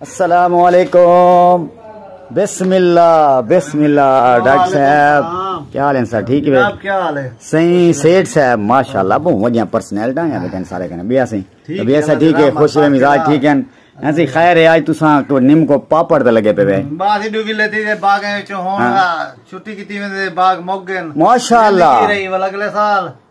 السلام علیکم بسم اللہ بسم اللہ ڈاکٹر صاحب کیا حال ہیں سر ٹھیک ہے کیا حال ہے صحیح سیٹ صاحب ماشاءاللہ بہت وڈیاں پرسنل ڈا ہیں بیٹھے سارے کنے بیا سی بیا سی ٹھیک ہے خوش رہے مزاج ٹھیک ہیں ایسی خیر ہے آج تساں کو نیم کو پاپڑ تے لگے پے وے باسی ڈو ویلے تے باغ وچ ہون چھٹی کیتی ویندے باغ مگ گئے ماشاءاللہ رہی ول اگلے سال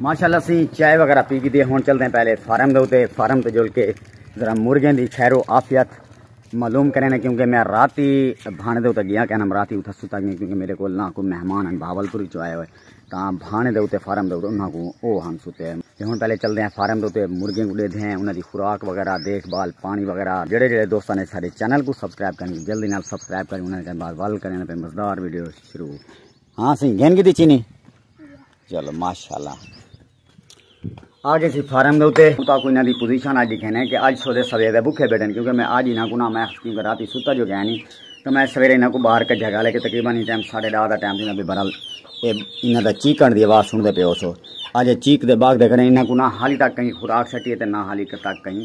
ماشاءاللہ سی چائے وغیرہ پی گئی ہن چلدے ہیں پہلے فارم دے اوتے فارم تے جول کے ذرا مرغیں دی خیر و عافیت معلوم کریں نے کیونکہ میں رات ہی بھانے دے اوتے گیا کہنا رات ہی اوتھا ستا گیا کیونکہ میرے کول نہ کوئی مہمان ہیں بھاول پوری چ آئے ہوئے تاں بھانے دے اوتے فارم دے اوتے انہاں کو او ہم ستے ہیں تے ہن پہلے چلدے ہیں فارم دے اوتے مرغیں کو دیدھے ہیں انہاں دی خوراک وغیرہ دیکھ بھال پانی وغیرہ جڑے جڑے دوستاں نے سارے چینل کو سبسکرائب کریں جلدی نال سبسکرائب کریں انہاں دے بعد وال کریں تے مزدار ویڈیو شروع ہاں سی گھن کی دی چینی چلو ماشاءاللہ آگے سی فارم دے اتے اتا کوئی نہ دی پوزیشن آج دیکھے نے کہ آج سودے سویرے دے بکھے بیٹھن کیونکہ میں آج ہی نہ کو نہ میں خطیم کر راتی ستا جو گیا نہیں تو میں سویرے نہ کو باہر کا جگہ لے کے تقریبا نہیں ٹائم ساڑھے ڈاہ دا ٹائم دینا بھی برال اے انہ دا چیک کرنے دی آواز سن دے پہ ہو سو آج چیک دے باغ دے کرنے انہ کو نہ حالی تک کہیں خوراک سٹی ہے تے نہ حالی تک کہیں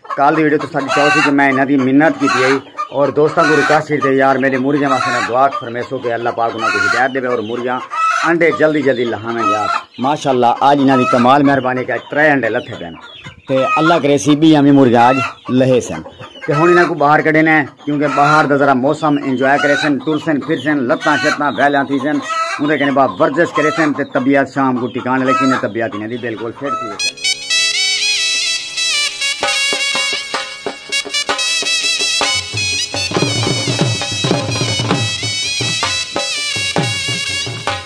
کال دی ویڈیو تو ساڈی چاہو سی کہ میں انہاں دی منت کیتی ہے اور دوستاں کو ریکویسٹ کیتے یار میرے مرغیاں واسطے نہ دعا فرمیسو کہ اللہ پاک انہاں کو ہدایت دے اور مرغیاں انڈے جلدی جلدی لہاویں یار ماشاءاللہ آج انہاں دی کمال مہربانی کہ ترے انڈے لتھے پین تے اللہ کرے سی بھی ہمیں مرغیاں آج لہے سن تے ہن انہاں کو باہر کڈینے کیونکہ بہار دا ذرا موسم انجوائے کریسن، ٹرسن پھرسن، لتاں شتاں ویلیاں تھیسن، اوندے کنے بعد ورزش کریسن تے طبیعت شام کوں ٹکانے لگسی تے طبیعت انہاں دی بالکل فٹ تھی ویسی۔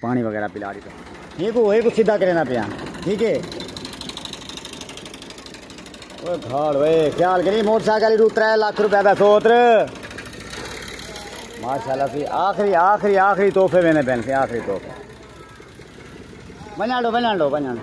پاݨی وغیرہ پلا ݙتا۔ ہی کوں ہی کوں سدھا کریندا پیاں ٹھیک ہے۔ اوئے گھاڑ اوئے خیال کری موٹر سائیکل رو ترے لکھ روپے دا سوتر ماشاءاللہ سی آخری آخری آخری تحفے ویندے پین سی آخری تحفے ونجاڑو ونجاڑو ونجاڑو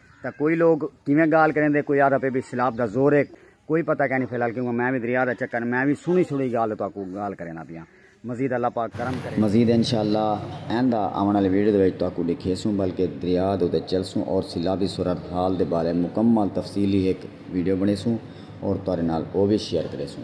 تاں کوئی لوگ کیویں گالھ کریندے کوئی آہدا پئے وی سیلاب دا زور اے کوئی پتہ کینی فی الحال کیونکہ میں وی دریا دا چکر میں وی سنڑی سنڑی گالھ تہاکوں گالھ کرینا پیاں مزید اللہ پاک کرم کرے۔ مزید انشاء اللہ ایندا آونڑ آلی ویڈیو دے وچ تہاکوں ڈکھیسوں بلکہ دریا دے اتے چلسوں اور سیلابی صورتحال دے بارے مکمل تفصیلی ہک ویڈیو بنڑیسوں اور تہاڈے نال او وی شیئر کریسوں۔